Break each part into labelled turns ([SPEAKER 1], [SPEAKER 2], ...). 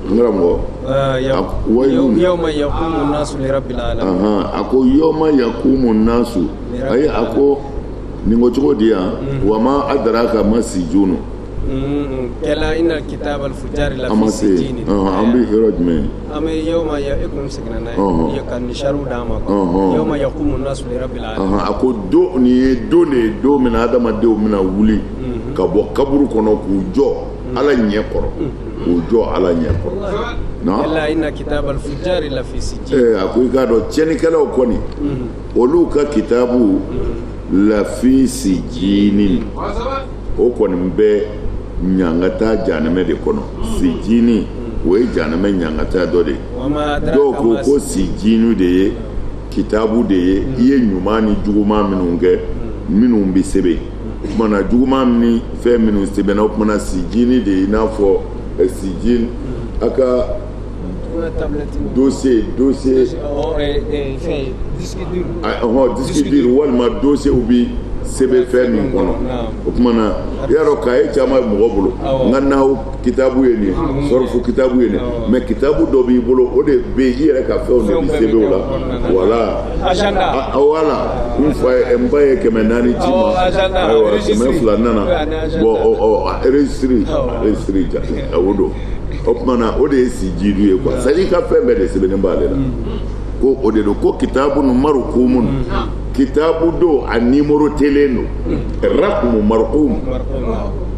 [SPEAKER 1] Karamɔgɔ
[SPEAKER 2] a ko yawma
[SPEAKER 1] yakumu nasu ayi a ko nin ko cogo di yan wa ma adaraka ma sijinu a ma
[SPEAKER 2] se an bɛ yɔrɔ jumɛn an bɛ yawma yakumu seginna n'a ye ka nisariw
[SPEAKER 1] d'a ma
[SPEAKER 2] yawma yakumu nasu a ko don nin
[SPEAKER 1] ye don de ye don min na adamadenw bɛna wuli ka bɔ kaburu kɔnɔ k'u jɔ ala ɲɛ kɔrɔ k'u jɔ ala ɲɛ
[SPEAKER 2] kɔrɔ a ko i k'a
[SPEAKER 1] dɔn tiɲɛnikɛlaw kɔni olu ka kitabu la fi sijini o kɔni bɛ ɲangata janɛmɛ de kɔnɔ sijini o ye janɛmɛ ɲangata dɔ de ye dɔw ko ko sijini de ye kitabu de ye i ye ɲuman ni juguman minnu kɛ minnu bɛ sɛbɛn o tuma na juguman ni fɛn minnu sɛbɛnna o tuma na sijini de i n'a fɔ eh, sijini a ka dossier dossier ɔhɔn disque dur walima dossierw bi sɛbɛn fɛn min kɔnɔ o tuma na i y'a dɔn kaye caman bɛ mɔgɔ bolo nka nahw kitabu ye nin sɔrɔfu kitabu ye nin mais kitabu dɔ b'i bolo o de bɛ i yɛrɛ ka fɛnw de bɛ sɛbɛn o la wala wala n fa ye n ba ye kɛmɛ naani ci n ma ayiwa kɛmɛ fila nana bon registre registre ja o don o tuma na o de ye sijinu ye quoi c'est-à-dire i ka fɛn bɛɛ de sɛbɛnnen b'ale la ko o de don ko kitabun marukumun kitabu don a nimorotelen don rakumu marukumu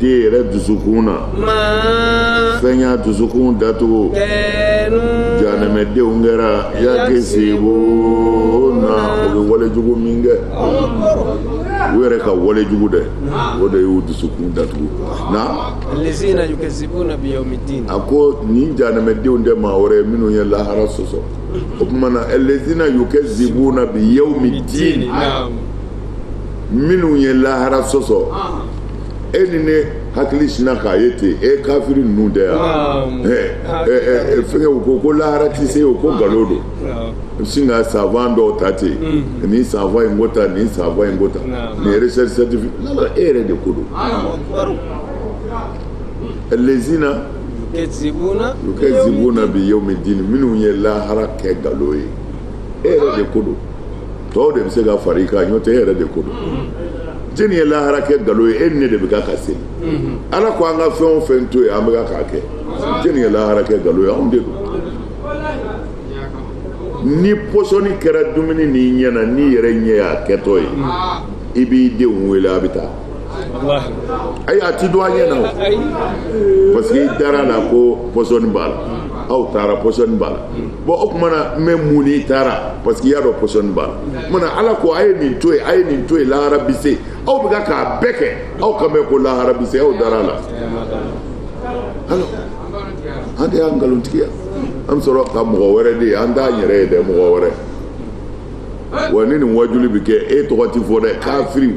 [SPEAKER 1] den yɛrɛ dusukun
[SPEAKER 2] na fɛn
[SPEAKER 1] y'a dusukun
[SPEAKER 2] datugu
[SPEAKER 1] jahanɛmɛdenw kɛra yakisibuna u bɛ walejugu min kɛ u yɛrɛ ka walejugu dɛ o de y'u dusukun datugu
[SPEAKER 2] na a ko
[SPEAKER 1] nin jahanɛmɛdenw tɛ maa wɛrɛ minnu ye lahara sɔsɔ o tuma na alazina yukazibuna bi yawmi diin minnu ye lahara sɔsɔ e ni ne hakili sinna k'a ye ten e kafiri ninnu de y'a fɛnkɛ u ko ko lahara tɛ se o ko nkalon don i bɛ sin ka savant dɔw ta ten nin savant in ko tan nin savant in ko tan nin recherche scientifique la e yɛrɛ de ko don alazina yukazibuna bi yawmi dini minnu ye lahara kɛ nkalon ye e yɛrɛ de ko don. tɔw de bɛ se ka fara i kan n'o tɛ e yɛrɛ de ko don jɔni ye lahara kɛ nkalon ye e ni ne de bɛ ka ka seli ala ko an ka fɛn o fɛn to yen an bɛ ka k'a kɛ jɔni ye lahara kɛ nkalon ye anw de don ni pɔsɔni kɛra dumuni n'i ɲɛna n'i yɛrɛ ɲɛ y'a kɛtɔ ye i b'i denw wele a bɛ taa
[SPEAKER 2] ayi a
[SPEAKER 1] ti don a ɲɛ na o parce que i dara a la ko pɔsɔni b'a la aw taara pɔsɔni b'a la bon o tuma na n bɛ mun n'i taara parce que i y'a dɔn pɔsɔni b'a la o tuma na ala ko a ye nin to yen a ye nin to yen lahara bi se aw bɛ ka k'a bɛɛ kɛ aw kan bɛ ko lahara bi se aw dara a la alors an de y'a nkalontigiya an bɛ sɔrɔ ka mɔgɔ wɛrɛ de ye an t'an yɛrɛ ye dɛ mɔgɔ wɛrɛ wa ni nin wajuli bɛ kɛ e tɔgɔ tɛ fɔ dɛ kafiriw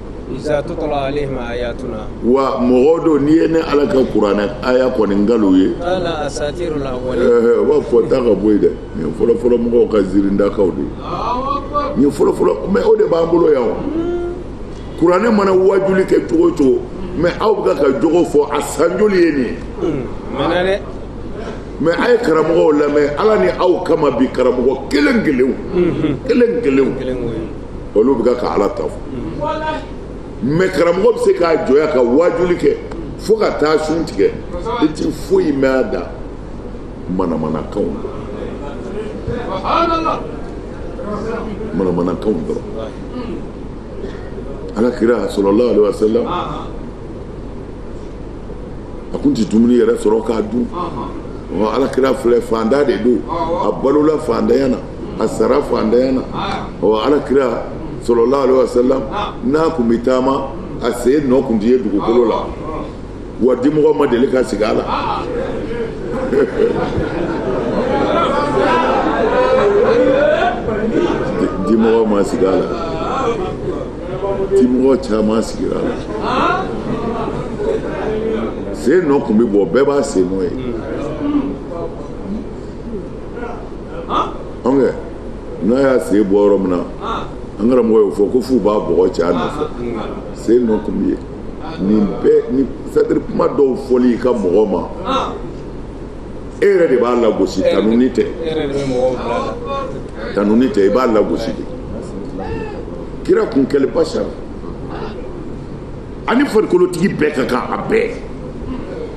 [SPEAKER 2] iza tutla alaihim ayatuna wa
[SPEAKER 1] mɔgɔ don n'i ye ne ala ka kuranɛ aya kɔni kalan a ye qala asatirul
[SPEAKER 2] awwalin a b'a fɔ taa ka bɔ
[SPEAKER 1] yen dɛ nin ye fɔlɔfɔlɔ mɔgɔw ka zirindakanw de ye nin ye fɔlɔfɔlɔ mais o de b'an bolo yan o kuranɛ mana wajuli kɛ cogo o cogo mais aw bɛ ka jogo fɔ a san joli ye nin ye hmm, mɛna dɛ mais a ye karamɔgɔw lamɛn ala ni aw kama bi karamɔgɔ kelen kelenw hmm, hmm. kelen kelenw olu bɛ ka ala ta fɔ mais karamɔgɔ bɛ se k'a jɔ yan ka wajuli kɛ fo ka taa sun tigɛ i tɛ foyi mɛn a da manamanakanw manamanakanw dɔrɔn ala kira sallallahu alaihi wasallam a kun tɛ dumuni yɛrɛ sɔrɔ k'a dun ala kira filɛ fantan de don a balola fantanya na a sara fantanya na ala kira sallallahu alaihi wasallam n'a kun bɛ taama a sen nɔ kun tɛ ye dugukolo la wa dimɔgɔ ma deli ka sigi a la dimɔgɔ ma sigi a la dimɔgɔ caman sigira a la sen nɔ kun bɛ bɔ bɛɛ b'a sen nɔ ye an kɛ n'a y'a sen bɔ yɔrɔ min na an karamɔgɔ y'o fɔ ko f'u b'a bɔgɔ cɛ a nɔfɛ sen nɔ kun bɛ ye nin bɛɛ ni c'est-à-dire kuma dɔw fɔli i ka mɔgɔ ma e yɛrɛ de b'a lagosi tanuni tɛ i b'a lagosi de kira kun kɛlen bashar ani farikolotigi bɛɛ ka kan a bɛɛ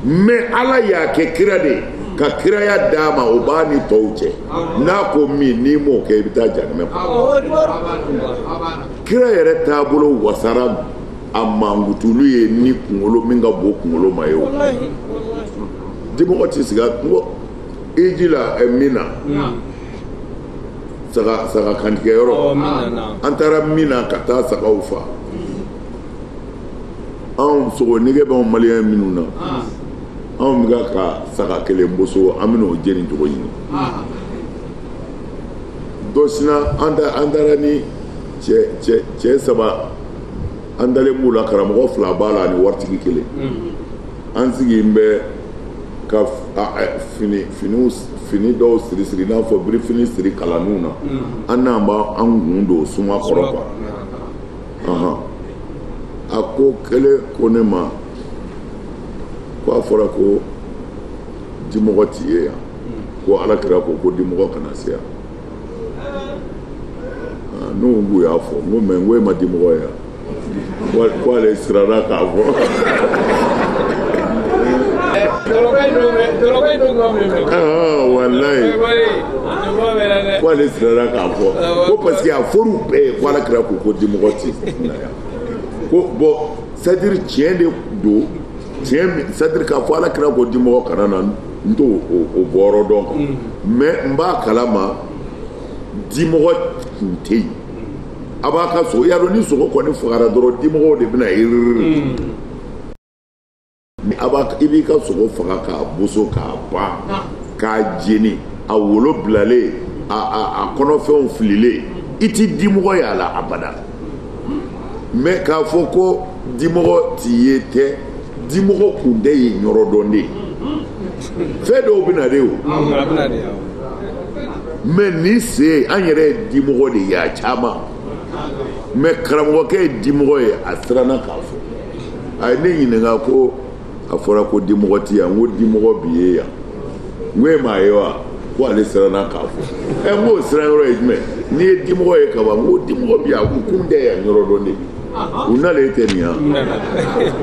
[SPEAKER 1] mais ala y'a kɛ kira de ye ka kiraya d'a ma o b'a ni tɔw cɛ n'a ko min n'i m'o kɛ i bɛ taa jahanamɛ kɔnɔ kira yɛrɛ taabolo wasara a mankutuli ye ni kunkolo min ka bon kunkolo ma ye o dimɔgɔ tɛ sigi n ko hiji la eh, Mina saga saga kantigɛ yɔrɔ oh, an taara Mina ka taa sagaw fa anw sogo nege b'anw maliyɛn minnu na ah. anw bɛ ka ka saga kelen boso an bɛn'o jeni cogo ɲini ah. dɔ sina an taara ni cɛ saba an dalen b'u la karamɔgɔ fila b'a la ani waritigi kelen mm-hmm. an sigilen bɛ ka fini finiw fini dɔw siri siri n'a fɔ birifini siri kalaniw na mm-hmm. an n'an b'a an kun don suma kɔrɔ quoi ahan a ko kelen ko ne ma ko a fɔra ko dimɔgɔ ti ye yan mm. ko ala kira ko ko dimɔgɔ kana se yan ah, ne ko k'u y'a fɔ n ko mɛ n ko e ma dimɔgɔ ye yan K'ale siranna k'a fɔ. Walayi k'ale siranna k'a fɔ ko parce que a fɔr'u bɛɛ ye ko Alakira ko ko dimɔgɔ tɛ na yan ko bon c'est à dire tiɲɛ de don tiɲɛ min c'est à dire k'a fɔ Alakira ko dimɔgɔ kana na n t'o o bɔyɔrɔ dɔn quoi mais n b'a kalama dimɔgɔ tun tɛ yen. a b'a ka sogo i y'a dɔn ni sogo kɔni fagara dɔrɔn dimɔgɔw de bɛna yiri ni a b'a i b'i ka sogo faga k'a boso k'a ban k'a jeni a wolo bilalen a a a kɔnɔfɛnw fililen i ti dimɔgɔ y'a la abada mɛ k'a fɔ ko dimɔgɔ ti ye tɛ dimɔgɔ kun tɛ yen yɔrɔ dɔn de ye fɛn dɔw bɛ na de o mɛ nin sen an yɛrɛ ye dimɔgɔ de ye a caman mɛ karamɔgɔkɛ ye dimɔgɔ ye a siranna k'a fɔ a ye ne ɲininka ko a fɔra ko dimɔgɔ ti yan n ko dimɔgɔ bi ye yan n ko e m'a ye wa ko ale siranna k'a fɔ ɛ n k'o siran yɔrɔ ye jumɛn n'i ye dimɔgɔ ye kaban n ko dimɔgɔ bi yan a ko kun tɛ yan yɔrɔ dɔn de u n'ale tɛ nin yan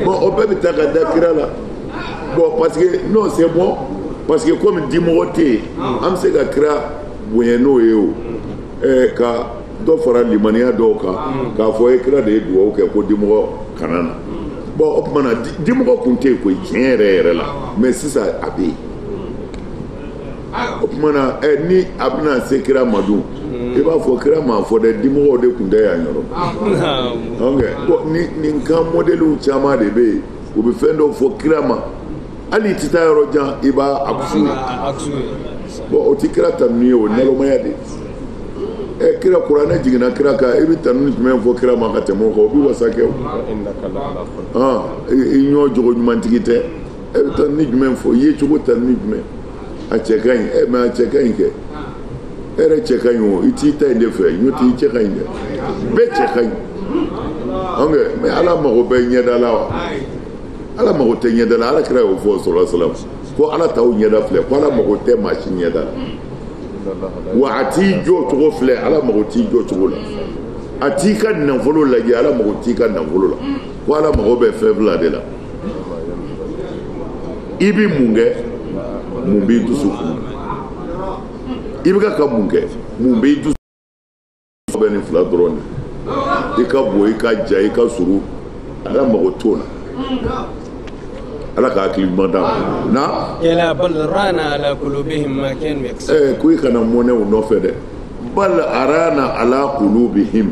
[SPEAKER 1] bɔn o bɛɛ bɛ taa ka da kira la bɔn parce que non c'est bon parce que komi dimɔgɔ tɛ yen an bɛ se ka kira bonya n'o ye o ɛɛ ka dɔ fara limaniya dɔw kan k'a fɔ ɛ kira de ye dugawu kɛ ko dimɔgɔ kana na bɔn o tuma na dimɔgɔ tun tɛ yen koyi tiɲɛ yɛrɛ yɛrɛ la mɛ sisan a bɛ yen o tuma na ɛ ni a bɛna se kira ma dun i b'a fɔ kira m'a fɔ dɛ dimɔgɔw de tun tɛ yan yɔrɔ nin kan mɔdɛliw caman de bɛ yen u bɛ fɛn dɔw fɔ kira ma hali i tɛ taa yɔrɔ jan i b'a akusu ye bɔn o tɛ kira tanuni ye o nalomaya de ɛ eh, kira kuranɛ jiginna kira kan i bɛ tanuni jumɛn fɔ kira ma ka tɛmɛ o kan o bɛ wasa kɛ o i ɲɔ jogo ɲumantigi tɛ e bɛ tanuni jumɛn fɔ i yecogo tanuni jumɛn a cɛ ka ɲi eh, mais a cɛ ka ɲi kɛ e yɛrɛ cɛ ka ɲi o i t'i ta in de fɛ ɲɔ t'i cɛ ka ɲi dɛ bɛɛ cɛ ka ɲi ok mais ala mago bɛ ɲɛda la wa ala mago tɛ ɲɛda la ala kira y'o fɔ sɔrɔ salam ko ala t'aw ɲɛda filɛ ko ala mago tɛ maa si ɲɛda la wa a t'i jɔcogo filɛ ala mago t'i jɔcogo la a t'i ka nafolo lajɛ ala mago t'i ka nafolo la ko ala mago bɛ fɛn fila de la i bɛ mun kɛ mun b'i dusukun i bɛ ka mun kɛ mun b'i dusu fɛ nin fila dɔrɔn de i ka bon i ka jan i ka surun ala mago t'o la ala ka hakili ɲuman d'an ma na kalla
[SPEAKER 2] bal rana ala qulubihim ma kanu yaksibun eh ko i kana mɔnɛ
[SPEAKER 1] u nɔfɛ dɛ bal arana ala qulubihim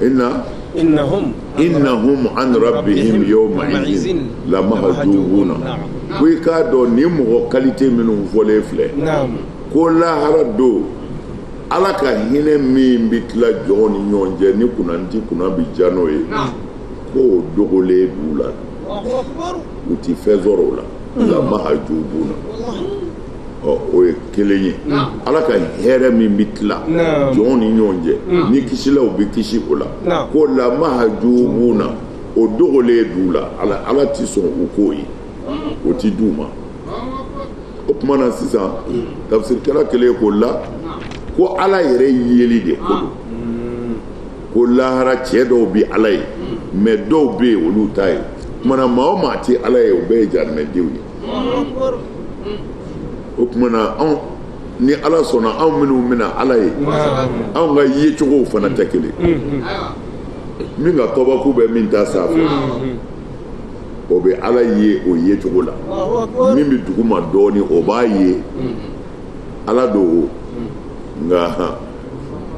[SPEAKER 1] ina inahum an rabihim yawma izin lamahajubuna ko i k'a dɔn nin mɔgɔ qualité minnu fɔlen filɛ ko lahara don ala ka hinɛ min bɛ tila jɔn ni ɲɔgɔn cɛ ni kunnandi kunna bɛ ja n'o ye k'o dogolen b'u la u tɛ fɛn sɔrɔ o la lamahajubuna ɔ o ye kelen ye ala ka hɛrɛ min bɛ tila jɔn ni ɲɔgɔn cɛ ni kisilaw bɛ kisi o la ko lamahajubuna o dogolen d'u la ala tɛ sɔn u k'o ye o tɛ di u ma o tuma na sisan tafsirikɛla kelen k'o la ko ala yɛrɛ yeli de ko don ko lahara cɛ dɔw bɛ ala ye mais dɔw bɛ yen olu t'a ye o tuma na maa o maa tɛ ala ye o bɛɛ ye jahanamadenw ye o tuma na anw ni ala sɔnna anw minnu bɛna ala ye anw ka yecogow fana tɛ kelen min ka tɔbaku bɛ min ta sanfɛ o bɛ ala ye o yecogo la min bɛ duguma dɔɔni o b'a ye ala don nka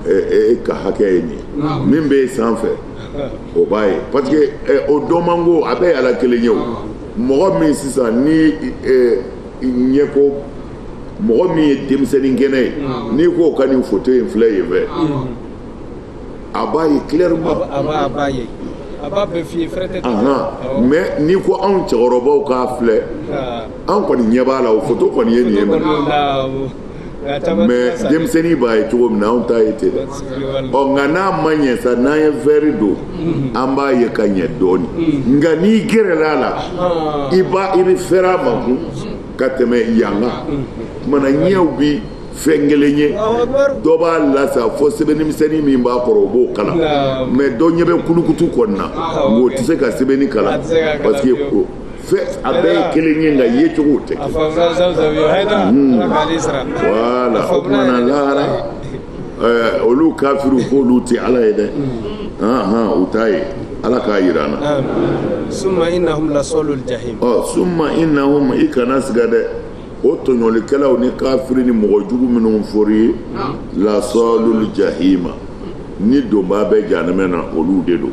[SPEAKER 1] e, e, e ka hakɛ ye nin min bɛ sanfɛ o b'a ye parce que o dɔnmanko a bɛɛ ye ala kelen ye o mɔgɔ min sisan ni eh, ɲɛko mɔgɔ min ye denmisɛnnin kɛnɛ ye mm. n'i k'o ka nin foto in filɛ yen fɛ mm. a b'a ye clairement a b'a
[SPEAKER 2] ye a b'a bɛɛ f'i ye fɛrɛtɛ mais
[SPEAKER 1] n'i ko anw cɛkɔrɔbaw k'a filɛ ah. an kɔni ɲɛ b'a la o foto kɔni ye nin ye mais denmisɛnnin b'a ye cogo min na anw ta ye ten dɛ ɔ nka n'a ma ɲɛ sa n'an ye verre don an b'a ye ka ɲɛ dɔɔni nka n'i gɛrɛla a la i ba i bɛ fɛrɛ a ma kun ka tɛmɛ yan kan o tuma na ɲɛw bi fɛn kelen ye dɔ b'a lasa fo sɛbɛnnimisɛnnin min b'a kɔrɔ o b'o kalan mais dɔ ɲɛ bɛ kulukutu kɔni na nka o tɛ se ka sɛbɛnni kalan parce que fɛ a bɛɛ ye kelen ye nka yecogow tɛ kelen voilà o tuma na lahara eh, olu kafiriw k'olu tɛ ala ye dɛ u t'a ye ala k'a yira an na summa
[SPEAKER 2] innahum lasalul jahim ɔ summa
[SPEAKER 1] innahum i kana siga dɛ o tɔɲɔlikɛlaw ni kafiri ni mɔgɔ jugu minnu fɔri ye lasalul jahima ni donbaa bɛ janɛmɛ na olu de don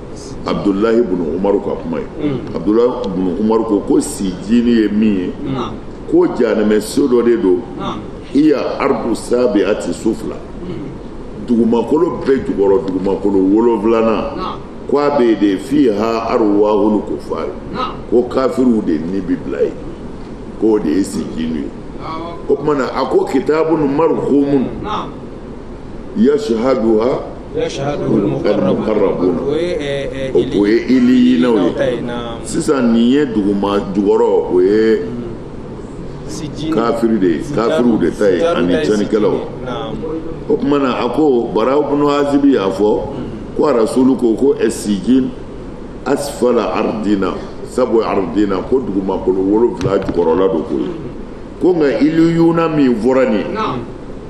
[SPEAKER 1] abudulayi bunu umaru ka kuma ye abudulayi bunu umaru ko ko sijini ye min ye ko janɛmɛ so dɔ de don hiya ardu sabiati sufla dugumakolo bɛɛ jukɔrɔ dugumakolo wolonwulanan ko a bɛ de fiha aruwahulu kufari ko kafiriw de ni bi bila yen k'o de ye sijini ye o tuma na a ko kitabu marukumun yashaduha o ye iliyina ye sisan nin ye duguma jukɔrɔ o ye kafiri de ye kafiriw de ta ye ani cɛnnikɛlaw o tuma na a ko bara ibn azibi y'a fɔ ko arasulu ko ko sijin asfala ardina sabu ardina ko dugumakolo wolonwula jukɔrɔla don ko ye ko nka iliyuna min fɔra nin ye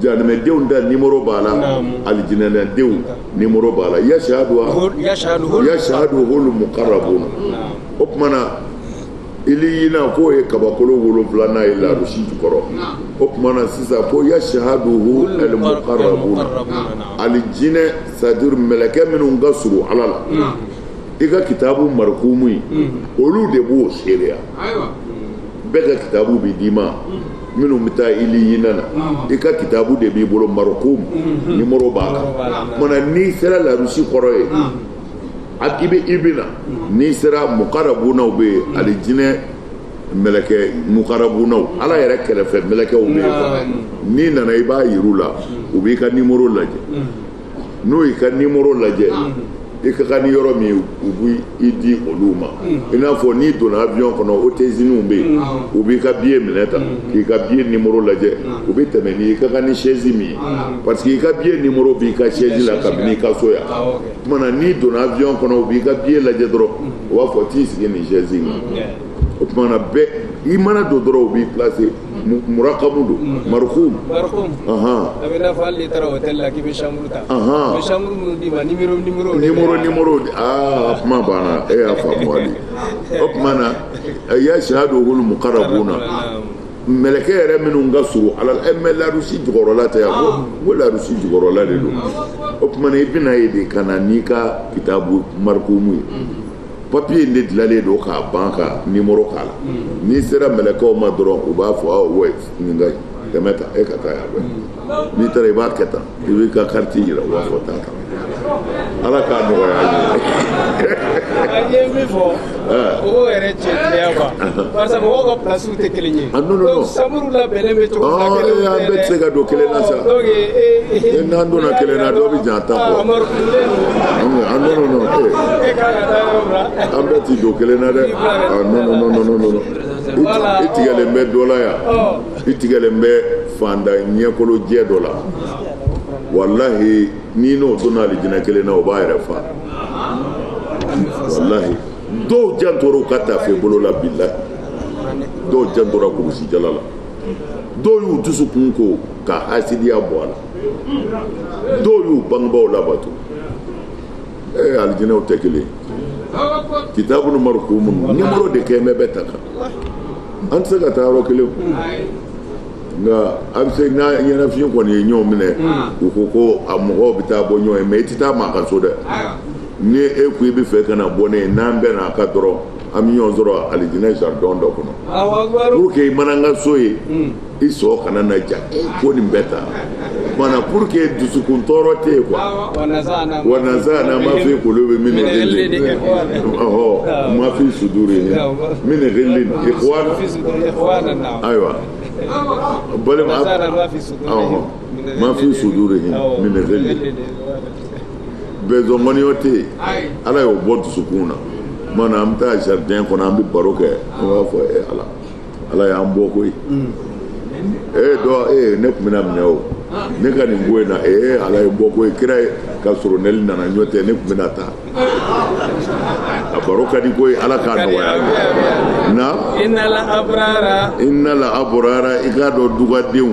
[SPEAKER 1] Janɛdenw da ni muru b'a la ali jinɛdenw ni muru b'a la yasa don yasa don wolo mu kari bon o tumaumana i ɲin k'o ye kabakolo wolo wolonwula n'a ye larusi kɔrɔ o tumaumana sisan ko ya si don ali jinɛinɛ sajuru mkɛ minnu ka s ala la i ka kitaburukumu olu de b'o seereya bɛɛ ka kitabu bɛ d'i ma minnu bɛ taa iliyina na i ka kitabu de b'i bolo marukumu nimɔrɔ b'a kan mana n'i sera larusi kɔrɔ yen a k'i bɛ i bɛna n'i sera mukarabunaw bɛ yen alijinɛ mɛlɛkɛ mukarabunaw ala yɛrɛ kɛrɛfɛ mɛlɛkɛw bɛ yen n'i nana i b'a yir'u la u b'i ka nimɔrɔ lajɛ n'u y'i ka nimoro lajɛ i ka kan ni yɔrɔ min u bɛ i di olu ma i n'a fɔ n'i donna avion kɔnɔ hôtesseninw bɛ yen u b'i ka billet minɛ ta k'i ka billet nimoro lajɛ u bɛ tɛmɛ n'i ka kan ni chaise min ye parce que i ka billet nimoro b'i ka chaise la kabini i ka so yan o tuma na n'i donna avion kɔnɔ u b'i ka billet lajɛ dɔrɔn u b'a fɔ t'i sigi nin chaise in kan o tuma na bɛɛ i mana don dɔrɔn u b'i placer murakamu don marikumu a bɛ n'a
[SPEAKER 2] fɔ hali n'i taara hôtel la k'i bɛ chambre ta u bɛ chambre minnu d'i ma numéro numéro numéro numéro aa a
[SPEAKER 1] kuma banna e y'a faamu hali o tuma na yashihaduhul mukarabuna mɛlɛkɛ yɛrɛ minnu ka surun ala la mais larusi jukɔrɔla tɛ yan ko ko larusi jukɔrɔla de don o tuma na i bɛna ye de ka na n'i ka kitabu marikumu ye papiye in de dilalen don k'a ban ka nimoro k'a la n'i sera mɛlɛkɛw ma dɔrɔn u b'a fɔ awɔ nin ka tɛmɛ tan e ka taa yan n'i taara i b'a kɛ tan i b'i ka carte yira u b'a fɔ taa tan ala k'a nɔgɔya an ye.
[SPEAKER 2] an ye min fɔ o yɛrɛ cɛ tiɲɛ quoi parce que mɔgɔw ka place tɛ kelen ye. Ah, non non non. Chambre labɛnnen bɛ cogo min na kelen tɛ dɛ. An bɛɛ tɛ se ka don kelen
[SPEAKER 1] na sa. Donc ee. Eh, eh, eh. N'an donna kelen na dɔ bɛ jan an ta kɔ. Ah, Amadu Kunle. Ah non non non. E ka ka taa
[SPEAKER 2] yɔrɔ la. An bɛɛ tɛ don kelen na
[SPEAKER 1] dɛ. Ah non non non non non. I tigɛlen bɛ dɔ la yan. I tigɛlen bɛ faantan ɲɛkolo jɛ dɔ la. Walahi n'i n'o donna alijinɛ kelen na o b'a yɛrɛ fa. Walahi. dɔw jantora u ka tafe bolo la bilahi dɔw jantora kurusi jala la dɔw y'u dusukun ko ka hasidiya bɔ a la dɔw y'u bangebaaw labato ee alijinɛw tɛ kelen kitabun marikumun nimoro de kɛ mɛ bɛ ta kan an tɛ se ka taa yɔrɔ kelen nka a bɛ se n'a ɲɛnafin kɔni ye ɲɔgɔn minɛ u ko ko a mɔgɔw bɛ taa bɔ ɲɔgɔn ye mais i tɛ taa maa ka so dɛ ni e ko i bɛ fɛ ka na bɔ ne ye n'an bɛnna a kan dɔrɔn an bɛ ɲɔgɔn sɔrɔ alijinɛ jardin dɔ kɔnɔ pour que i mana n ka so ye hmm. i sɔn kana na ja ko nin bɛɛ ta kumana pour que dusukun tɔɔrɔ tɛ yen quoi wa nazaana ma fi kulubihim min ghilin ɔhɔ ma fi sudurihim min ghilin ikhwana ayiwa balima ɔhɔ ma fi sudurihim min ghilin bɛɛ ɲɔgɔn kɔniya tɛ yen ala y'o bɔ dusukun na tuma na an bɛ taa jardin kɔnɔ an bɛ baro kɛ an b'a fɔ ee ala ala y'an bɔ koyi ee dɔ ee ne tun bɛna minɛ o ne ka nin ko in na ee ala ye n bɔ koyi kira ye ka soronali nana n'o tɛ ne tun bɛna taa a baro ka di koyi ala k'a nɔgɔya na innal abrara innal abrara i k'a dɔn dugadenw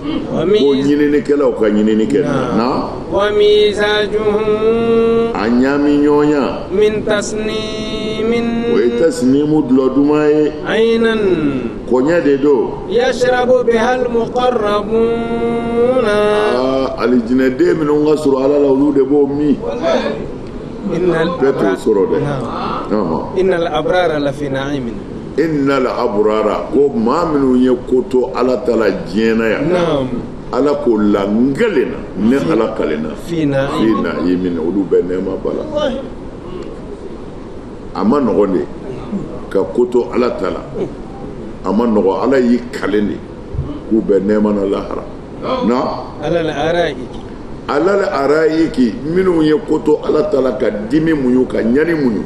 [SPEAKER 1] ko ɲininikɛlaw ka ɲinini kɛ na a ɲaami ɲɔgɔnya o ye tasinimu dɔlɔ duman ye kɔɲɛ de don alijinɛden minnu ka surun ala la olu de b'o min bɛɛ t'o sɔrɔ dɛ
[SPEAKER 2] innal
[SPEAKER 1] abrara ko maa minnu ye ko to ala ta la diɲɛ na yan ala ko la n kalen na ne ala kalen na fi na'imin olu bɛ nɛɛma ba la a ma nɔgɔn de ka ko to ala ta la a ma nɔgɔn ala y'i kalen de k'u bɛ nɛɛma na lahara non alal arayiki alal arayiki minnu ye ko to ala ta la ka dimi muɲu ka ɲani muɲu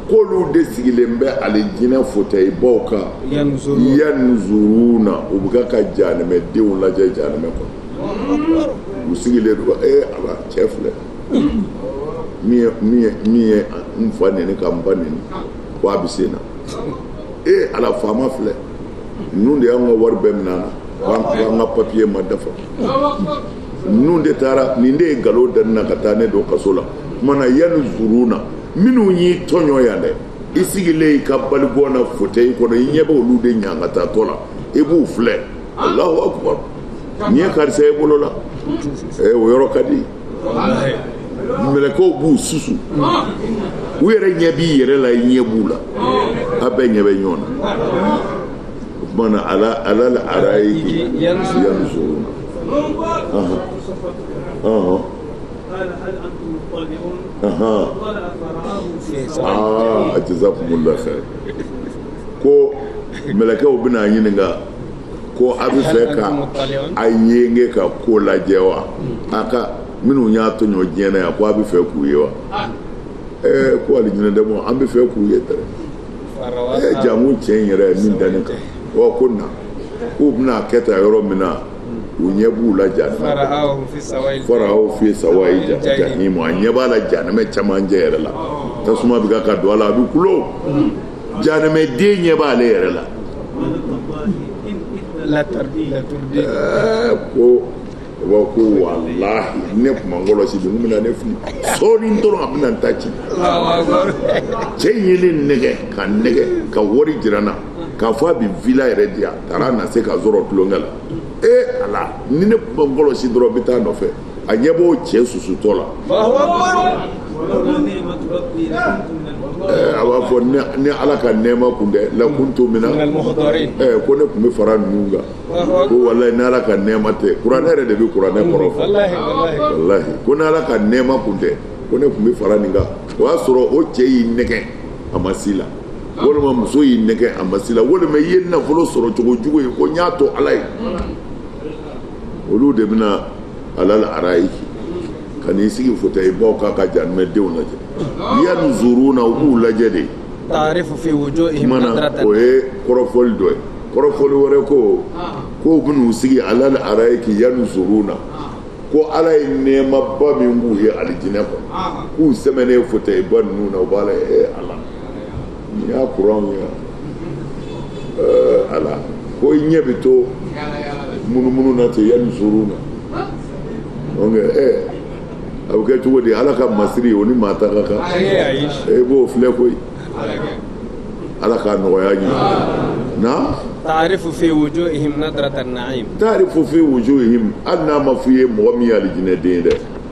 [SPEAKER 1] k'olu de sigilen bɛ alijinɛ fotɛyi baw kan yanzuruna u bɛ ka janɛmɛ denw lajɛ janɛmɛ kɔnɔ u sigilen don ee eh, ala cɛ filɛ min ye min ye n fa neni ka n ba neni ko a bɛ sen na ee eh, ala faama filɛ ninnu de y'an ka wari bɛɛ minɛ an na k'an ka papiye ma dafa ninnu de taara nin de ye nkalon da ne na ka taa ne don kaso la tuma na yanzuruna minnu y'i tɔɲɔ yan dɛ i sigilen i ka balikɔn na fotɛyi kɔnɔ i ɲɛ bɛ olu de ɲangatatɔ la i b'u filɛ alahu akubaru nin ye karisa i bolo la o yɔrɔ ka di mɛlɛkɛw b'u susu u yɛrɛ ɲɛ b'i yɛrɛ la i ɲɛ b'u la a bɛɛ ɲɛ bɛ ɲɔgɔn na o tuma na ala alal arayiki yanzu
[SPEAKER 2] jazakumulahu
[SPEAKER 1] kayiru ko mɛlɛkɛw bɛna ɲininka ko a bɛ fɛ ka a yenge ka ko lajɛ wa a ka minnu y'a tɔɲɔ diɲɛ na yan ko a bɛ fɛ k'u ye wa ɛɛ ko alijinɛdenw an bɛ fɛ k'u ye dɛ ɛɛ janko cɛ in yɛrɛ min danni kan wa ko na k'u bɛna kɛ ta yɔrɔ min na u ɲɛ b'u la ja fara'ahu fi sawayi ja jahimu a ɲɛ b'a la janɛmɛ camancɛ yɛrɛ la tasuma bɛ ka ka don a la a bɛ kulo jahanamɛden ɲɛ b'ale yɛrɛ la ko wa ko walahi ne tun ma n kɔlɔsi bi nin bɛna ne fili sɔɔni dɔrɔn a bɛna n ta ci cɛ in ye ne nɛgɛ ka nɛgɛ ka wari jira n na k'a fɔ a bɛ villa yɛrɛ di yan taara a na se ka n sɔrɔ tulonkɛ la ee ala ni ne tun ma n kɔlɔsi dɔrɔn n bɛ taa a nɔfɛ a ɲɛ b'o cɛ susutɔ la a b'a fɔ ni ala ka nɛɛma kun tɛ lakuntu mina ko ne tun bɛ fara ninnu kan ko walahi ni ala ka nɛɛma tɛ kuranɛ yɛrɛ de bɛ kuranɛ kɔrɔ fɔ walahi ko ni ala ka nɛɛma kun tɛ ko ne tun bɛ fara nin kan o y'a sɔrɔ o cɛ y'i nɛgɛ a ma s'i la walima muso y'i nɛgɛ a ma s'i la walima i ye nafolo sɔrɔ cogo jugu ye ko n y'a to ala ye olu de bɛna alal arayiki ka n'i sigi fauteuil baw kan ka jahanamadenw lajɛ yanzuruna u b'u lajɛ de kuma
[SPEAKER 2] na o ye kɔrɔfɔli
[SPEAKER 1] dɔ ye kɔrɔfɔli wɛrɛ ko k'u bɛn'u sigi alal arayiki yanzuruna ko ala ye nɛɛmaba min b'u ye alijinɛ kɔnɔ k'u sɛmɛnen fauteuil ba ninnu na u b'a lajɛ ee ala n y'a kuran min yan eh, ala ko i ɲɛ bɛ to munumunu na ten yanzuruna donc ɛ eh, a bɛ kɛ cogo di ala ka masiri o ni maa ta ka kan e b'o filɛ koyi ala k'a nɔgɔya amiina. taarifu fi wujuhihim
[SPEAKER 2] nadratan na'im taarifu fi
[SPEAKER 1] wujuhihim hali n'a ma f'i ye mɔgɔ min ye alijinɛden ye dɛ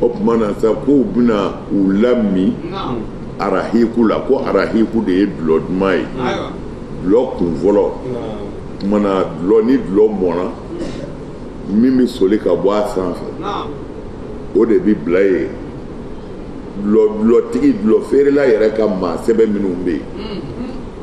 [SPEAKER 1] o tuma na sa ko u bɛna u lamin arahiku la ko arahiku de ye dulɔ duman ye dulɔ kun fɔlɔ tuma na dulɔ ni dulɔ mɔna min bɛ soli ka bɔ a sanfɛ o de bɛ bila yen dulɔ dulɔtigi dulɔ feerela yɛrɛ ka maa sɛbɛ minnu bɛ yen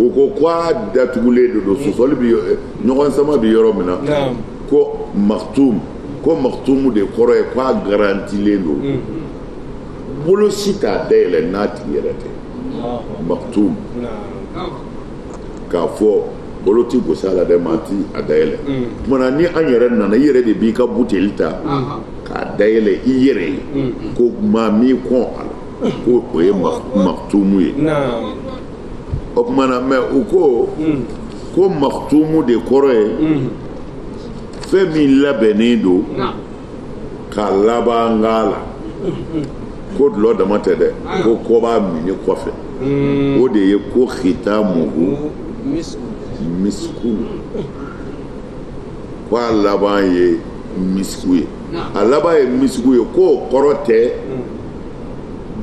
[SPEAKER 1] u ko k' a datugulen de don sɔsɔli bɛ eh, ɲɔgɔn sama bɛ yɔrɔ min na ko maktum ko maktumu de kɔrɔ ye k'a garantilen don mm. bolo si t'a dayɛlɛ n'a tigi yɛrɛ tɛ maktum k'a fɔ bolo ti gos'a la dɛ maa ti a dayɛlɛ mm. tuma na ni an yɛrɛ nana i yɛrɛ de b'i ka buteli ta k'a dayɛlɛ i yɛrɛ ye mm. ko maa m'i kɔn a la ko o ye maktumu ye o tuma na mɛ u ko ko maktumu de kɔrɔ ye fɛn min labɛnnen don ka laban k'a la ko dulɔ dama tɛ dɛ ko ko b'a minni kɔfɛ o de ye ko khitamuhu misiku ko a laban ye misiku ye a laban ye misiku ye k'o kɔrɔ tɛ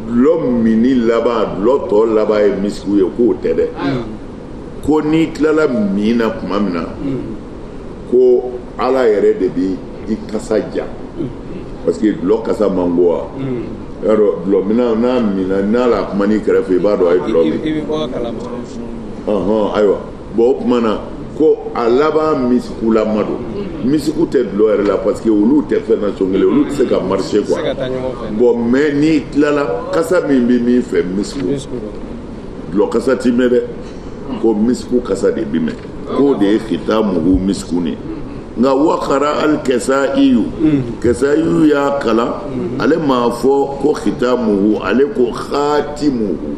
[SPEAKER 1] dulɔ minni laban dulɔ tɔ laban ye misiku ye k'o tɛ dɛ ko n'i tilala min na tuma min na ko ala yɛrɛ de bi i kasa ja parce que dulɔ kasa man go wa y'a dɔn dulɔminna n'a minna n'a la kuma n'i kɛrɛfɛ i b'a dɔn a ye dulɔ min ayiwa bon o tuma na ko a laban misikulama don misiku tɛ dulɔ yɛrɛ la parce que olu tɛ fɛn nasɔn kelen olu tɛ se ka marcher quoi bon mais n'i tilala kasa min bɛ mɛn i fɛ misiku dulɔ kasa ti mɛn dɛ ko misiku kasa de bi mɛn k'o de ye khitamuhu misiku ni nka wakara al kisayiyu kisayiyu y'a kalan ale m'a fɔ ko khitamuhu ale ko khatimuhu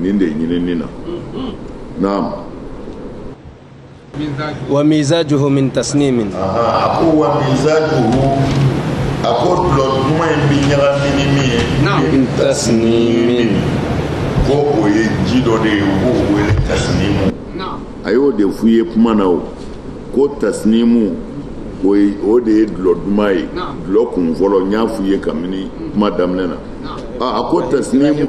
[SPEAKER 1] nin de ɲinini na
[SPEAKER 2] naam wa mizajuhu min tasnimin a ko wa
[SPEAKER 1] mizajuhu a ko dulɔ duman in bi ɲagami ni min ye min tasnimin ko o ye ji dɔ de ye u b'o wele tasnimu a y'o de f'u ye kuma na o ko tasnimu o de ye dulɔ duman ye dulɔ kun fɔlɔ n y'a f'u ye kabini kuma daminɛ na a ko tasnimu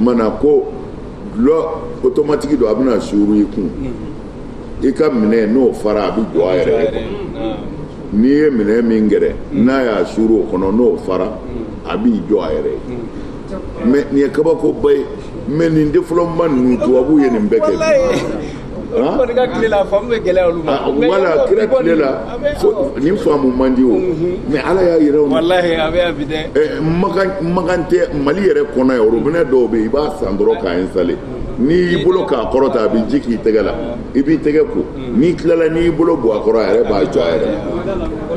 [SPEAKER 1] mana ko dulɔ otomatiki don a bɛna suuru i kun i ka minɛ n'o fara a bɛ jɔ a yɛrɛ ye n'i ye minɛ min gɛrɛ n'a y'a suuru o kɔnɔ n'o fara a b'i jɔ a yɛrɛ ye mais nin ye kabakoba ye mais nin développement ninnu tubabu ye nin bɛɛ kɛ kɔni
[SPEAKER 2] ka tile la faamu bɛ
[SPEAKER 1] gɛlɛya olu ma. wala kira tile la nin faamu man di o mais ala y'a yira o. walahi a bɛ yan bi
[SPEAKER 2] dɛ. ɛ makan makan
[SPEAKER 1] tɛ mali yɛrɛ kɔnɔ yan orobinɛ dɔw bɛ yen i b'a san dɔrɔn k'a installer n'i y'i bolo k'a kɔrɔ tan a bɛ ji k'i tɛgɛ la i b'i tɛgɛ ko n'i tilala n'i y'i bolo bɔ a kɔrɔ a yɛrɛ b'a jɔ a yɛrɛ ma.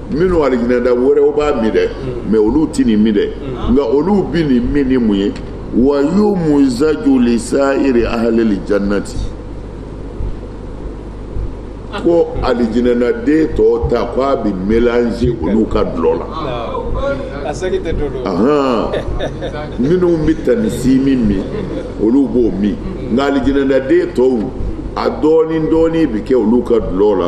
[SPEAKER 1] minnu alijinɛda wɛrɛw b'a min dɛ mais olu tɛ nin min dɛ nka olu bɛ nin min ni mun ye wa yumuzaju lisayiri ahalil jannati ko alijinɛnaden tɔw ta ko a bɛ melanze olu ka dulɔ la minnu bɛ tanisimi min olu b'o min nka alijinɛnaden tɔw a dɔɔni dɔɔni bɛ kɛ olu ka dulɔ la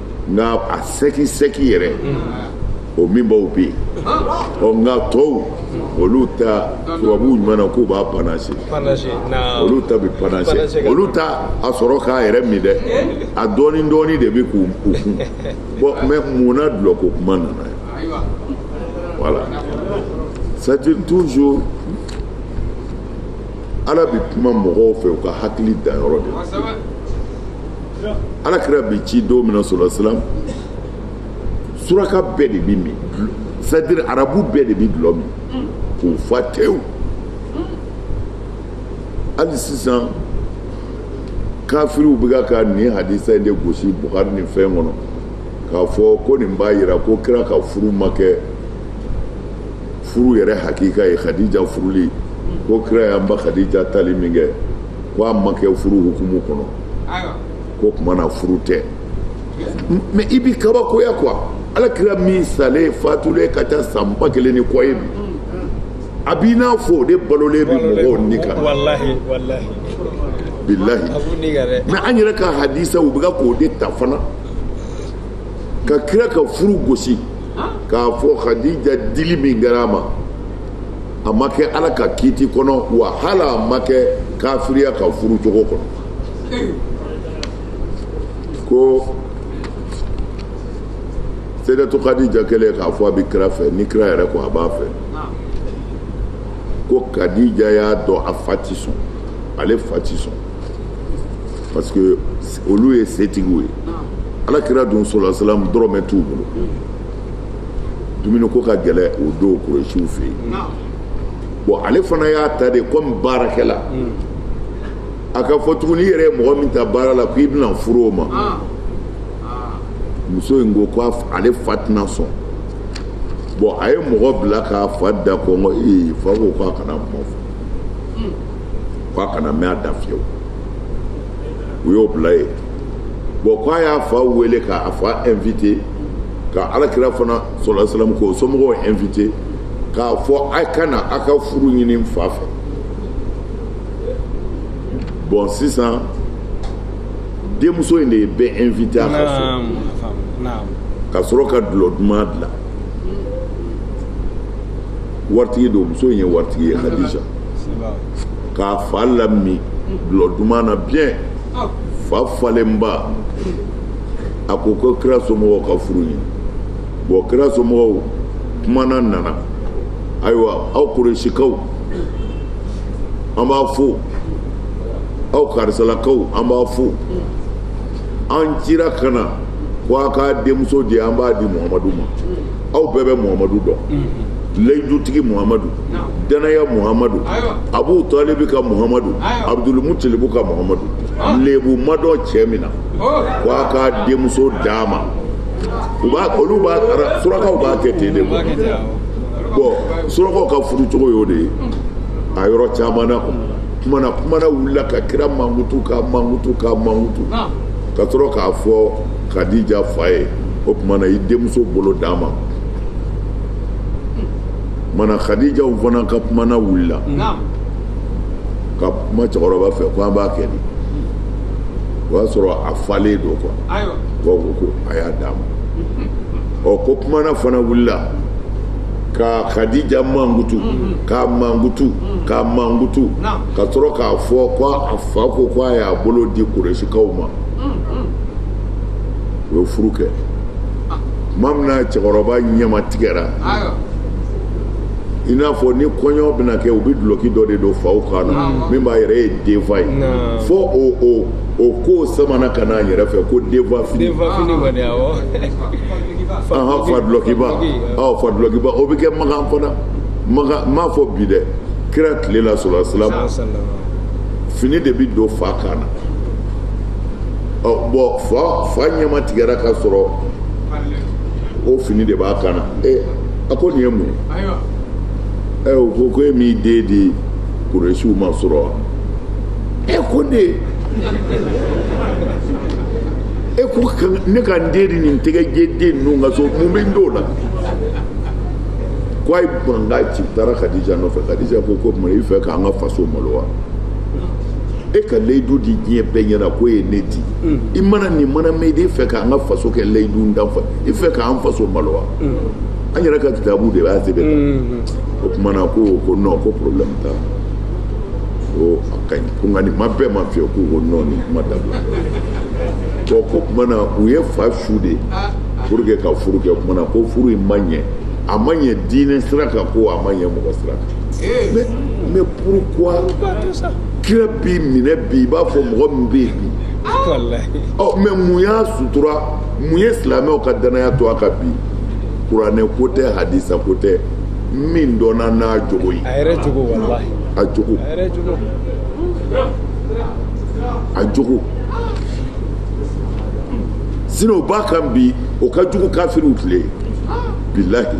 [SPEAKER 1] nka a sɛki sɛki yɛrɛ o minbaw bɛ yen ɔ nka tɔw olu ta tubabuw ɲuman na k'u b'a panase olu ta bɛ panase olu t'a sɔrɔ k'a yɛrɛ min dɛ a dɔɔni dɔɔni de bɛ k'u kun bon mais mun na dulɔ ko kuma nana ye voilà c'est toujours ala bɛ kuma mɔgɔw fɛ u ka hakili danyɔrɔ de la ala kira bi ci don min na sɔrɔsilam suraka bɛɛ de bɛ min c'est-à-dire arabu bɛɛ de bɛ dulɔ min k'u fa tewu hali sisan kafiriw bɛ ka nin hadisa in de gosi bukari ni fɛn kɔnɔ k'a fɔ ko nin b'a jira ko kira ka furu ma kɛ furu yɛrɛ hakika ye khadija furuli ko kira y'an ba khadija tali min kɛ ko a ma kɛ furu hukumu kɔnɔ ko kuma na furu tɛ mais i bi kabakoya quoi ala kira min salen fatulen ka ca san ba kelen ni kɔ ye bi a b'i n'a fɔ o de balolen bɛ mɔgɔw ni kan bilahi mais an yɛrɛ ka hadisaw u bɛ ka k'o de ta fana ka kira ka furu gosi k'a fɔ hadija dili min kɛra a ma a ma kɛ ala ka kiiti kɔnɔ wa hali a ma kɛ kafiriya ka furu cogo kɔnɔ ko seyidatu kadija kɛlen k'a fɔ a bɛ kira fɛ ni kira yɛrɛ ko a b'a fɛ ko kadija y'a dɔn a fa ti sɔn ale fa ti sɔn parce que olu ye setigiw ye ala kira dun sallallahu alaihi wasallam dɔrɔmɛ t'u bolo dumuniko ka gɛlɛn o don kuresiw fɛ yen bon ale fana y'a ta de komi baarakɛla a ka fɔ tuguni i yɛrɛ ye mɔgɔ min ta baara la k'i bɛna furu o ma muso in ko ko ale fa tɛna sɔn bon a ye mɔgɔ bila k'a fa da kɔngɔ ee fa ko k'a kana kuma fɔ k'a kana mɛn a da fiyewu u y'o bila yen bon k'a y'a fa wele k'a fa invite ka ala kira fana sallallahu alaihi wasallam k'o somɔgɔw invite k'a fɔ a ka na a ka furu ɲini n fa fɛ bon sisan denmuso in de ye bɛɛ invite a ka so ka sɔrɔ ka dulɔ duman dilan waritigi don muso in ye waritigi ye kadija k'a fa lamin dulɔ duman na bien fa falenba a ko ko kira somɔgɔw ka furu ɲini bon kira somɔgɔw kumana nana ayiwa aw kuresikaw an b'a fo aw karisalakaw an b'a fo an cira ka na ko a k'a denmuso di an b'a di muhamadu ma aw bɛɛ bɛ muhamadu dɔn layidutigi muhamadu dannaya muhamadu abu talibi ka muhamadu abudulmutilibu ka muhamadu lebu ma dɔn cɛ min na ko a ka denmuso d'a ma u b'a olu b'a surakaw b'a kɛ ten de quoi bon surakaw ka furu cogo y'o de ye a yɔrɔ caman na kumana kumana wulila ka kira mankutu k'a mankutu k'a mankutu ka sɔrɔ k'a fɔ Kadija fa ye o tuma na i denmuso bolo d'a ma mana kadijaw fana ka kumana wulila ka kuma cɛkɔrɔba fɛ ko an b'a kɛ di o y'a sɔrɔ a falen don quoi ko ko ko a y'a d'a ma ɔ ko kumana fana wulila ka kadija mankutu k'a mankutu k'a mankutu ka sɔrɔ k'a fɔ ko a fa ko ko a y'a bolo di kurɛsikaw ma u ye furu kɛ tuma min na cɛkɔrɔba ɲɛma tigɛra i n'a fɔ ni kɔɲɔ bɛna kɛ u bɛ dulɔki dɔ de don faw kan na min b'a yɛrɛ ye denfa ye fo o o o ko samana ka n'an yɛrɛ fɛ ko denfa fini denfa fini kɔni awɔ ahan fa dulɔkiba awɔ fa dulɔkiba o bɛ kɛ makan fana makan n m'a fɔ bi dɛ kira tile la sallallahu alaihi wasallam fini de bɛ don fa kan na ɔ bon fa fa ɲɛma tigɛra ka sɔrɔ o fini de b'a kan na ee a ko nin ye mun ye ɛ o ko ko e m'i den di kuresiw ma surɔ wa e ko ne e ko ne ka n den di nin tɛgɛjɛ den ninnu ka so mun bɛ n t'o la ko ayi n banna ci taara kadija nɔfɛ kadija ko ko tuma i fɛ k'an ka faso malo wa e ka layidu di diɲɛ bɛɛ ɲɛna k'o ye ne di mm. i mana nin mana mɛn i fɛ k'an ka faso kɛ layidu dan fɛ i fɛ k'an faso malo wa mm. an yɛrɛ ka kitabu de b'a sɛbɛn kan mm-hmm. o kumana ko ko non ko problème t'a ko a ka ɲi ko nka nin ma bɛn n ma fewu k'u ko non nin kuma dabila bon ko kumana u ye fa su de ah, ah. pour que ka furu kɛ kumana ko furu in ma ɲɛ a ma ɲɛ diinɛ sira kan ko a ma ɲɛ mɔgɔ sira kan mais mais pourquoi kira bɛ minɛ bi i b'a fɔ mɔgɔ min bɛ yen bi ɔ mais mun y'a sutura mun ye silamɛw ka danaya to a kan bi kuranɛ ko tɛ hadisa ko tɛ min dɔnna n'a jogo ye a yɛrɛ jogo walahi a jogo a yɛrɛ jogo a jogo sinon o b'a kan bi o ka jugu kafiriw tile bilahi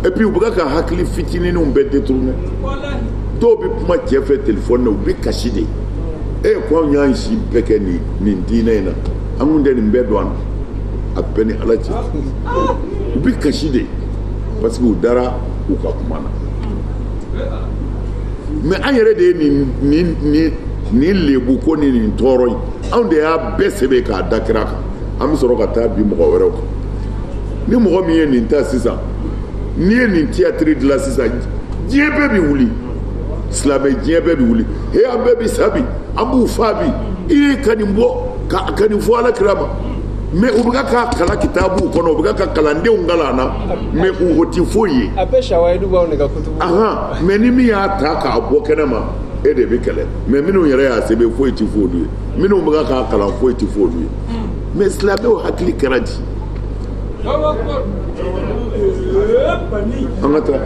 [SPEAKER 1] et puis u bɛ ka hakili fitininw bɛɛ détourner dɔw bɛ kuma cɛ fɛ telefɔni na u bɛ kasi de e ko anw y'an si bɛɛ kɛ nin nin diinɛ in na an kun tɛ nin bɛɛ dɔn a b'e ni ala cɛ u bɛ kasi de parce que u dara u ka kuma na mais an yɛrɛ de ye nin nin nin nin lebu ko ni nin tɔɔrɔ in anw de y'a bɛɛ sɛbɛn k'a da kira kan an bɛ sɔrɔ ka taa bin mɔgɔ wɛrɛw kan ni mɔgɔ min ye nin ta sisan n'i ye nin tiyatiri dilan sisan diɲɛ bɛɛ bɛ wuli silamɛ diɲɛ bɛɛ bɛ wuli he an bɛɛ bɛ sa bi an b'u faa bi i ye ka nin bɔ ka ka nin fɔ ala kira ma mais u bɛ k'a kalan kitabuw kɔnɔ u bɛ ka kalandenw kalan na mais u o tɛ foyi ye mais ni min y'a ta k'a bɔ kɛnɛ ma e de bɛ kɛlɛ mais minnu yɛrɛ y'a sɛbɛn foyi tɛ f'olu ye minnu bɛ k'a kalan foyi tɛ f'olu ye mais silamɛw hakili kɛra di an ka taa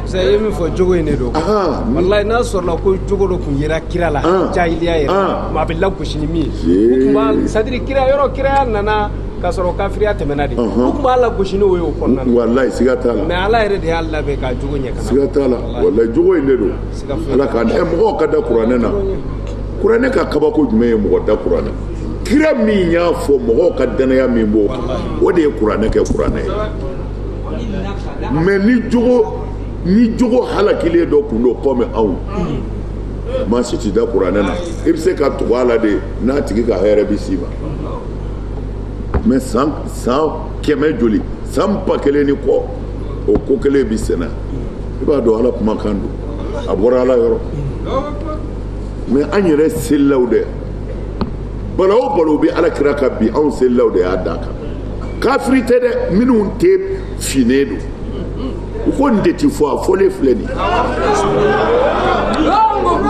[SPEAKER 1] Saya ye min fɔ
[SPEAKER 2] jogo in de don Ahan. walayi n'a sɔrɔla ko jogo dɔ tun yera kira la An. jahiliya yɛrɛ An. maa bɛ lagosi ni min ye Ee. u tun b'a sadiri kira yɔrɔ kiraya nana k'a sɔrɔ kafiriya tɛmɛna de Ɔhɔn. u tun b'a lagosi n'o ye o kɔnɔna na walayi siga t'a la mɛ
[SPEAKER 1] ala yɛrɛ de y'a labɛn
[SPEAKER 2] k'a jogo ɲɛ kana siga t'a la walayi
[SPEAKER 1] jogo in de don Siga foyi ala k'an ɛ mɔgɔw ka da kuranɛ na kuranɛ ka kabako jumɛn ye mɔgɔ da kuranɛ kira min y'a fɔ mɔgɔw ka dannaya min b'o kan o de ye kuranɛ kɛ kuranɛ ye mɛ ni jogo halakilen dɔ kun don kɔmi anw maa si ti da kuranɛ na i bɛ se ka tugu a la de n'a tigi ka hɛrɛ bɛ s'i ma mɛ san san kɛmɛ joli san ba kelen ni kɔ o ko kelen bɛ senna i b'a dɔn ala kumakan don a bɔra ala yɔrɔ mɛ an yɛrɛ selilaw dɛ balawu o balawu bɛ ala kira kan bi anw selilaw de y'a d'a kan kafiri tɛ dɛ minnu tɛ finnen don u ko nin de ti fɔ a fɔlen filɛ nin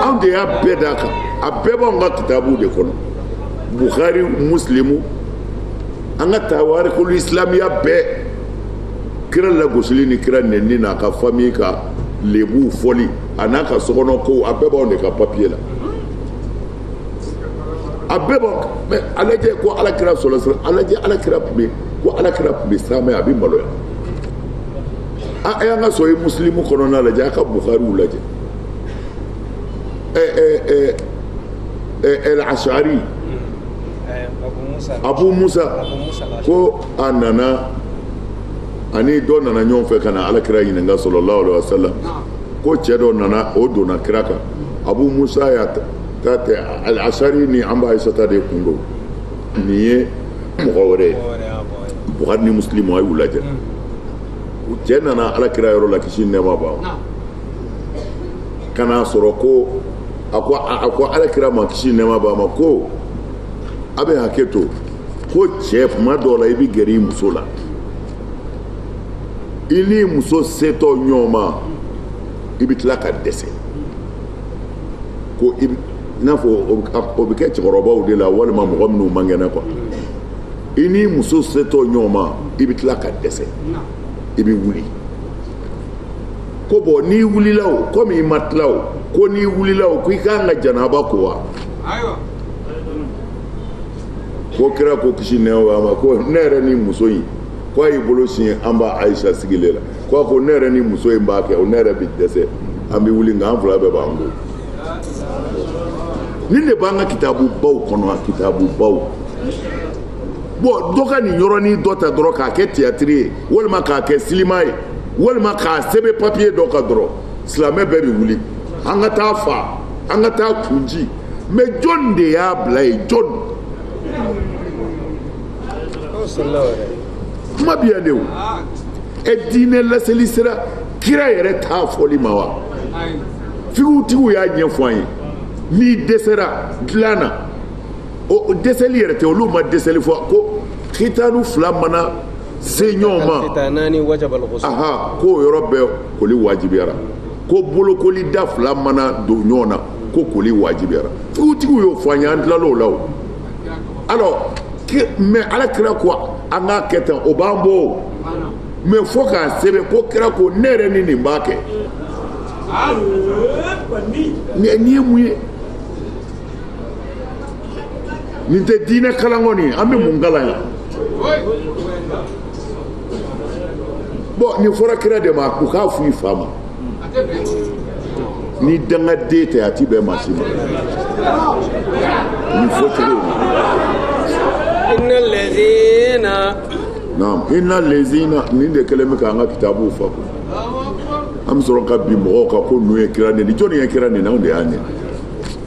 [SPEAKER 1] anw de y'a bɛɛ d'a kan a bɛɛ b'anw ka kitabuw de kɔnɔ buhari musilimu an ka tawarikulu isilamiya bɛɛ kira lagosili ni kira nɛni n'a ka fami ka lebuw fɔli an'a ka sokɔnɔ kow a bɛɛ b'anw de ka papiye la a bɛɛ bɔ mɛ a lajɛ ko ala kira sɔlɔlɔhu alayhi ala kira tun bɛ ko ala kira tun bɛ saamɛ a bɛ maloya a y'an ka sɔhihi musilimu kɔnɔna lajɛ a ka bukariw lajɛ ɛ ɛ ɛ ɛ ɛl asari abu musa ko a nana ani dɔ nana ɲɔgɔn fɛ ka na ala kira ɲininka sɔlɔlɔhu alayhi wa salam ko cɛ dɔ nana o donna kira kan abu musa y'a ta tɛ alasari ni an ba ayisata de kun don nin ye mɔgɔ wɛrɛ ye bukari ni musilimu a y'u lajɛ cɛ nana ala kira yɔrɔ la kisi nɛɛma b'a ma ka n'a sɔrɔ ko a ko a ko ala kira ma kisi nɛɛma b'a ma ko a bɛ hakɛ to ko cɛ kuma dɔw la i bɛ gɛrɛ i muso la i n'i muso setɔ ɲɔgɔn ma i bɛ tila ka dɛsɛ ko i n'a fɔ o bɛ kɛ cɛkɔrɔbaw de la walima mɔgɔ minnu man kɛnɛ kuwa i ni muso setɔ ɲɔgɔn ma i bɛ tila ka dɛsɛ i bɛ wuli ko bɔn n'i wulila o komi i ma tila o ko n'i wulila o ko i kan ka janaba ko wa ko kira ko kisi nɛɛma b'a ma ko ne yɛrɛ ni muso in ko a y'i bolo sin an ba ayisa sigilen la ko a ko ne yɛrɛ ni muso in b'a kɛ o ne yɛrɛ bɛ dɛsɛ an bɛ wuli nka an fila bɛɛ b'an ko nin de b'an ka kitabu baw kɔnɔ a kitabu baw bon dɔ ka nin yɔrɔnin dɔ ta dɔrɔn k'a kɛ tiyatiri ye walima k'a kɛ silima ye walima k'a sɛbɛn papiye dɔ kan dɔrɔn silamɛ bɛɛ bɛ wuli an ka t'a fa an ka t'a kun ci mais jɔn de y'a bila yen jɔn kuma bi yan de o e diinɛ laseli sera kira yɛrɛ ta fɔli ma wa figutigiw y'a ɲɛfɔ an ye n'i dɛsɛra dilan na o dɛsɛli yɛrɛ tɛ olu ma dɛsɛli fɔ ko kitanu fila mana se ɲɔgɔn ma aha k'o yɔrɔ bɛɛ koli wajibiyara ko bolokoli da fila mana don ɲɔgɔn na ko koli wajibiyara figutigiw y'o fɔ an ye an tilal'o la o alors mais ala kira ko an k'a kɛ tan o b'an bɔ o mais fo k'a sɛbɛn ko kira ko ne yɛrɛ ni nin b'a kɛ nin ye mun ye nin tɛ diinɛ kalan kɔni an bɛ mun kalan yan bon nin fɔra kira de ma u k'a fɔ i fa ma ni dangaden tɛ a ti bɛn maa si ma nin fɔcogo in na. naam inna lezina nin de kɛlen bɛ k'an ka kitabuw fa ko an bɛ sɔrɔ ka bin mɔgɔw kan ko ninnu ye kira nɛni jɔnni ye kira nɛni anw de y'a nɛni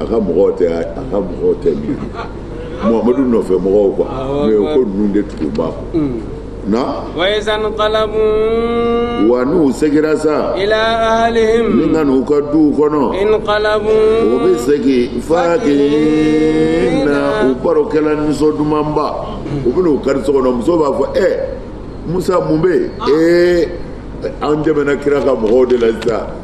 [SPEAKER 1] a ka mɔgɔw tɛ a ka mɔgɔw tɛ min muhamadu nɔfɛ mɔgɔw quoi mais o ko ninnu de tugu b'a kɔ mm. na wa n'u segira sa ni ka n'u ka duw kɔnɔ u bɛ segin fakihina u barokɛla nisɔn dumanba u bɛ n'u kari so kɔnɔ muso b'a fɔ ɛ musa mun bɛ yen ee an tɛmɛna kira ka mɔgɔw de la sisan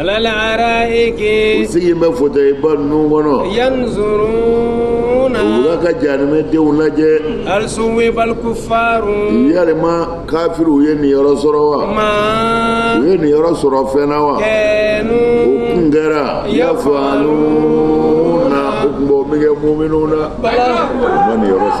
[SPEAKER 1] alal araiki. u sigilen bɛ fotɛyi ba ninnu kɔnɔ. yanzuruna. u bɛ ka jahanamɛ denw lajɛ. hal suwibal kufaru. yalima kafiriw ye nin yɔrɔ sɔrɔ wa. ma. u ye nin yɔrɔ sɔrɔ fɛn na wa. kanu. o kun kɛra. yafaluna. o kun b'o min kɛ muminun na. bala. u ma nin yɔrɔ sɔrɔ.